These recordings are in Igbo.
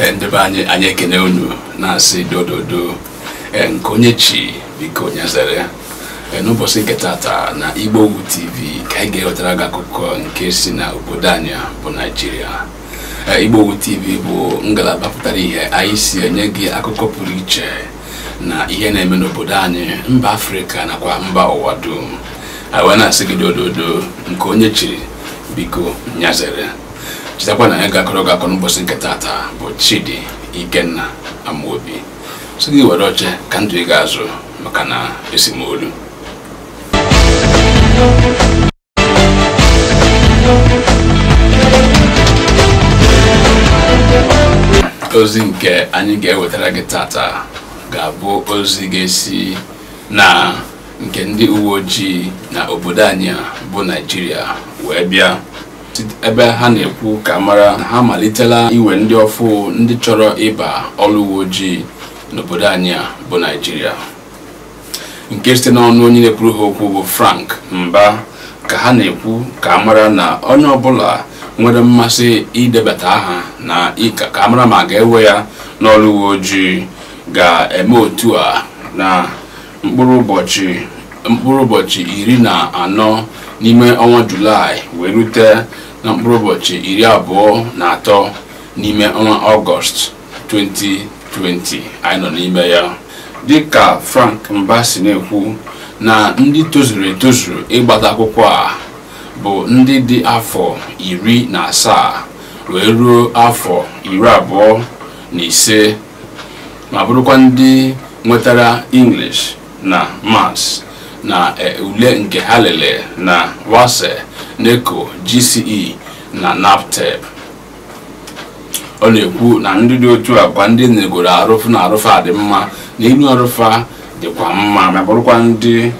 Ee, ndị be anyị anyị ekene unu na-asị dododo ee, nke onye chi biko nya zere Ee, n'ụbọchị nke tata na Igbowood TV ka anyị ga-ewetara gị akụkọ nke si na obodo anyị a bụ Naịjirịa Ee, Igbowood TV bụ ngalaba pụtara ihe anyị si enye gị akụkọ pụrụ iche na ihe na-eme n'obodo anyị mba afrịka nakwa mba ụwa dum anyị wee na-asị gị dododo nke onye chiri biko nya zere chetakwa na onye ga-akọrọ gị akụkọ n'ụbọchị nke tata bụ chidi ikenna amaobi sị gị were oche ka ndụ ị ga-azụ maka na esimolu ozi nke anyị ga-ewetara gị tata ga-abụ ozi ga-esi na nke ndị uwe ojii na obodo anyị bụ naijiria wee bịa ebe ha na-ekwu ka a mara na ha malitela iwe ndị ọfụ ndị chọrọ ịba ọrụ uwe ojii n'obodo anyị bụ naijiria nke site n'ọnụ onye na-ekwuru ha okwu bụ Frank Mba ka ha na-ekwu ka a mara na onye ọbụla nwere mmasị idebata aha na ịka ka a mara ma a ga-ewe ya n'ọrụ uwe ojii ga-eme otu a na mkpụrụ ụbọchị iri na anọ n'ime ọnwa julaị wee rute na mkpụrụ ụbọchị iri abụọ na atọ n'ime ọnwa ọgọst 2020 anyị nọ n'ime ya dịka Frank Mba si na-ekwu na ndị tozuru etozu ịgbata akwụkwọ a bụ ndị dị afọ iri na asaa wee ruo afọ iri abụọ na ise ma bụrụkwa ndị nwetara English na Maths na e, ule nke ha lere na WASSCE, NECO, GCE na NABTEB ọ na-ekwu na ndị dị otu a kwa ndị negoro arụ fụ na arụ fa dị mma na enu arụ fa dịkwa mma ma bụrụkwa ndị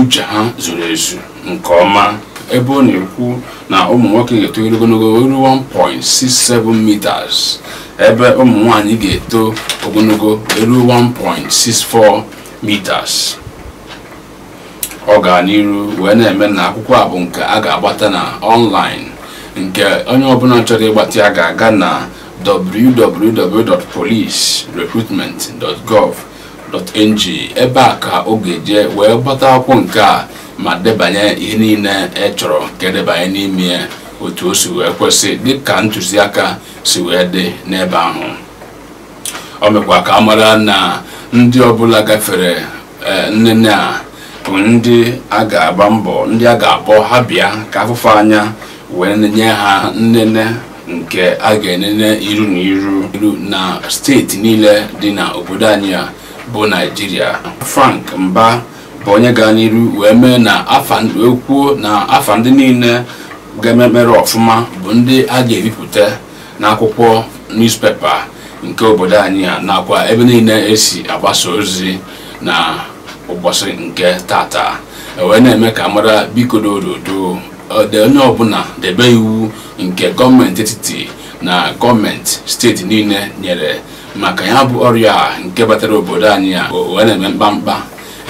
uche ha zuru ezu nke ọma ebe ọ na-ekwu na ụmụ nwoke ga-etoru ogologo ruo 1.67 meters ebe ụmụ nwanyị ga-eto ogologo ruo 1.64 meters ọ gara n'iru wee na-eme na akwụkwọ a bụ nke a ga-agbata na ọnlaịn nke onye ọbụla chọrọ ịgbata ya ga-aga na www.policerecruitment.gov.ng ebe a ka ọ ga-eje wee gbata akwụkwọ nke a ma debanye ihe niile e chọrọ ka e debanye n'ime ya otu o si wee kwesị dịka ntụziaka si wee dị n'ebe ahụ o mekwa ka a mara na ndị ọbụla gafere eh, nnene a bụ ndị a ga-agba mbọ ndị a ga-akpọ ha bịa ka a fụ fa anya wee nye ha nnene nke a ga-enene iru na iru iru na steeti niile dị na obodo anyị a bụ naijiria frank mba bụ onye gara n'iru wee mee na kwuo na afa ndị niile ga-ememere ọfụma bụ ndị a ga-ebipụta n'akwụkwọ newspaper nke obodo anyị a nakwa ebe niile e si agbasa ozi na ụbọsị nke tata wee na-eme ka a mara biko dododo ọdị onye ọbụna debe iwu nke gọọmenti etiti na gọọmenti steeti niile nyere maka ya bụ ọrịa a nke batara obodo anyị a o wee na-eme mkpamkpa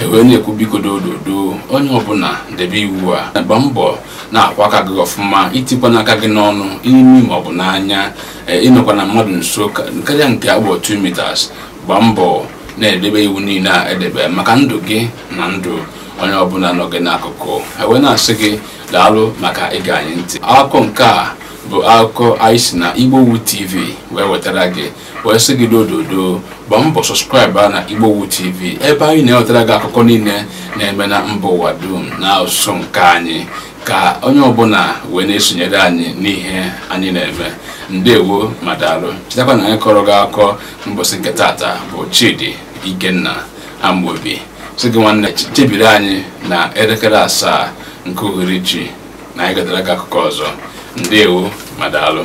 e wee na-ekwu biko dododo onye ọbụna debe iwu a gba mbọ na-akwa aka gị ọfụma i tikwana aka gị n'ọnụ imi ma ọ bụ n'anya eh, ị nọkwana mmadụ nso ka- karịa nke a kpọ 2 meters gba mbọ na-edebe iwu niile e debe maka ndụ gị na ndụ onye ọbụna nọ gị n'akụkụ e wee na-asị gị daalụ maka ige anyị ntị akụkọ nke a bụ akụkọ anyị si na igbowood tv wee wetara gị wee sị gị dododo gbaa mbọ subscribe na igbowood tv ebe anyị na-ewetara gị akụkọ niile na-eme na mba ụwa dum na asụsụ nke anyị ka onye ọbụna wee na-esonyere anyị n'ihe anyị na-eme ndewo ma daalụ chetakwa na onye kọrọ gị akụkọ mbọsị nke tata bụ chidi ikenna amobi sị gị nwanne chebiri anyị na elekere asaa nke uhuruchi na anyị ga-ewetara gị akụkọ ọzọ ndewo ma daalụ